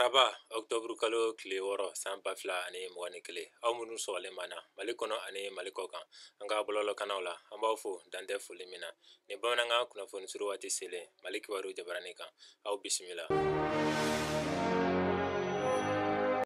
araba ɔktɔburu kalo tile wɔɔrɔ san ba fila ani mugan ni kelen aw minnu sɔgɔlen b'an na mali kɔnɔ ani mali kɔkan an ka bɔlɔlɔkannaw la an b'aw fo dantɛ foli min na ni bamanankan kunnafoni suru waati selen mali kibaru jabarani kan aw bisimila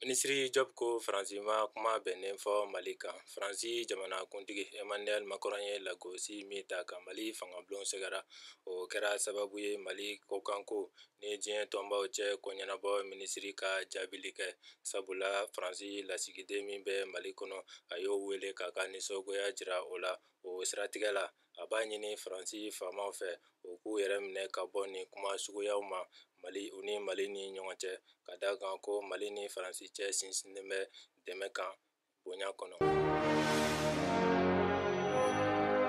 minisiri diop ko faransi ma kuma bɛnnen fɔ mali kan faransi jamanakuntigi emmanuel macron ye lagosi min ta ka mali fangabulon sɛgɛrɛ o kɛra sababu ye mali kɔkanko ni diɲɛ tɔnbaw cɛ ko ɲɛnabɔ minisiri ka jaabili kɛ sabula faransi lasigiden min bɛ mali kɔnɔ a y'o wele k'a ka nisɔngoya jira o la o siratigɛ la a b'a ɲini faransi faamaw fɛ u k'u yɛrɛ minɛ ka bɔ nin kuma suguyaw ma mali u ni mali ni ɲɔgɔn cɛ ka da kan ko mali ni faransi cɛ sinsinnen bɛ dɛmɛ kan bonya kɔnɔ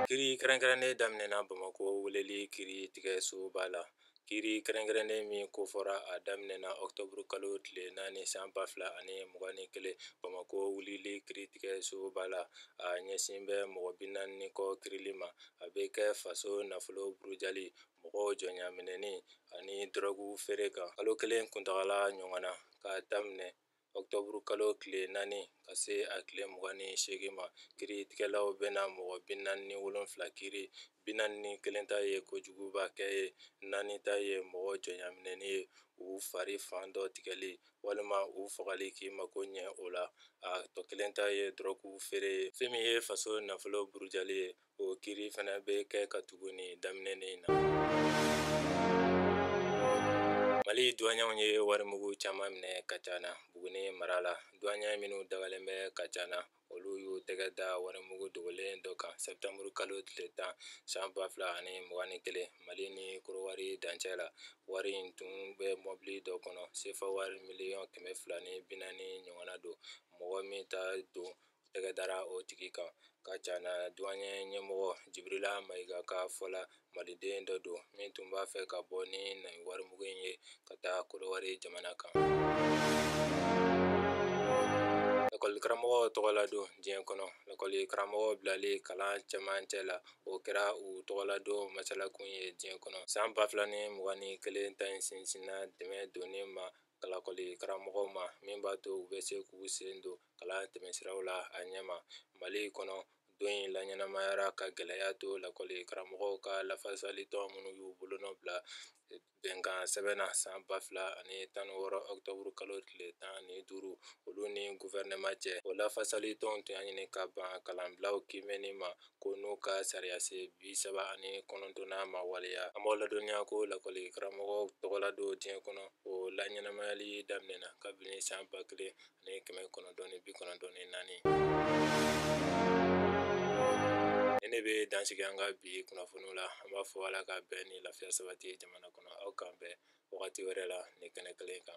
kiri kɛrɛnkɛrɛnnen daminɛna bamakɔ wulili kiritigɛsoba la kiri kɛrɛnkɛrɛnnen min kofɔra a daminɛna ɔkutɔburu kalo tile naani san ba fila ani mugan ni kelen bamakɔ wulili kiritigɛsoba la a ɲɛsin bɛ mɔgɔ bi naani ni kɔ kirili ma a bɛ kɛ faso nafolo burujali mɔgɔw jɔnyaminɛni ani dɔrɔgu feere kan kalo kelen kuntagala ɲɔgɔnna k'a daminɛ octobre kalo tile naani ka se a tile mugan ni seegin ma kiritigɛlaw bɛna mɔgɔ bi naani ni wolonfila kiri bi naani ni kelen ta ye kojuguba kɛ ye naani ta ye mɔgɔ jɔnyaminɛni ye u fari fan dɔ tigɛli walima u fagali k'i mako ɲɛ o la a tɔ kelen ta ye dɔrɔgu feere ye fɛn min ye faso nafolo burujali ye O kiri fana bɛ kɛ ka tugu nin daminɛnen in na. Mali douaniers ye warimugu caman minɛ Kajana Buguni mara la. Douaniers minnu dagalen bɛ Kajana, olu y'u tɛgɛ da warimugu dogolen dɔ kan septembre kalo tile 10 san 2021, Mali ni Kodowari dancɛ la. Wari in tun bɛ mɔbili dɔ kɔnɔ, sefa wari miliyɔn 240 ɲɔgɔnna don. Mɔgɔ min ta don tɛgɛ dara o tigi kan kajana duwayɛ ɲɛmɔgɔ jibirila mayiga ka fɔ la maliden dɔ don min tun b'a fɛ ka bɔ ni nin warimugu in ye ka taa kodowari jamana kan lakɔli karamɔgɔw tɔgɔladon diɲɛ kɔnɔ lakɔli karamɔgɔw bilali kalan cɛmancɛ la o kɛra u tɔgɔladon masalakun ye diɲɛ kɔnɔ san ba fila ni mugan ni kelen ta in sinsinna dɛmɛ donni ma kan lakɔli karamɔgɔw ma min b'a to u bɛ se k'u sen don kalan tɛmɛnsiraw la a ɲɛma mali kɔnɔ don in laɲɛnamayara ka gɛlɛya to lakɔli karamɔgɔw ka lafasali tɔn minnu y'u bolonɔ bila bɛnkansɛbɛn na san ba fila ani tan ni wɔɔrɔ ɔkutɔburu kalo tile tan ni duuru olu ni guvɛrɛnɛma cɛ o lafasali tɔn tun y'a ɲini ka ban kalanbilaw kiimɛni ma ko n'u ka sariya sen bi saba ani kɔnɔntɔnnan ma waleya an b'aw ladɔnniya ko lakɔli karamɔgɔw tɔgɔladon diɲɛ kɔnɔ o laɲɛnamayali daminɛna kabini san ba kelen ani kɛmɛ kɔnɔntɔn ni bi kɔnɔntɔn ni naani ni ne bɛ dansigi an ka bi kunnafoniw la an b'a fɔ ala ka bɛn ni lafiya sabati jamana kɔnɔ aw k'an bɛn wagati wɛrɛ la ni kɛnɛ kelen kan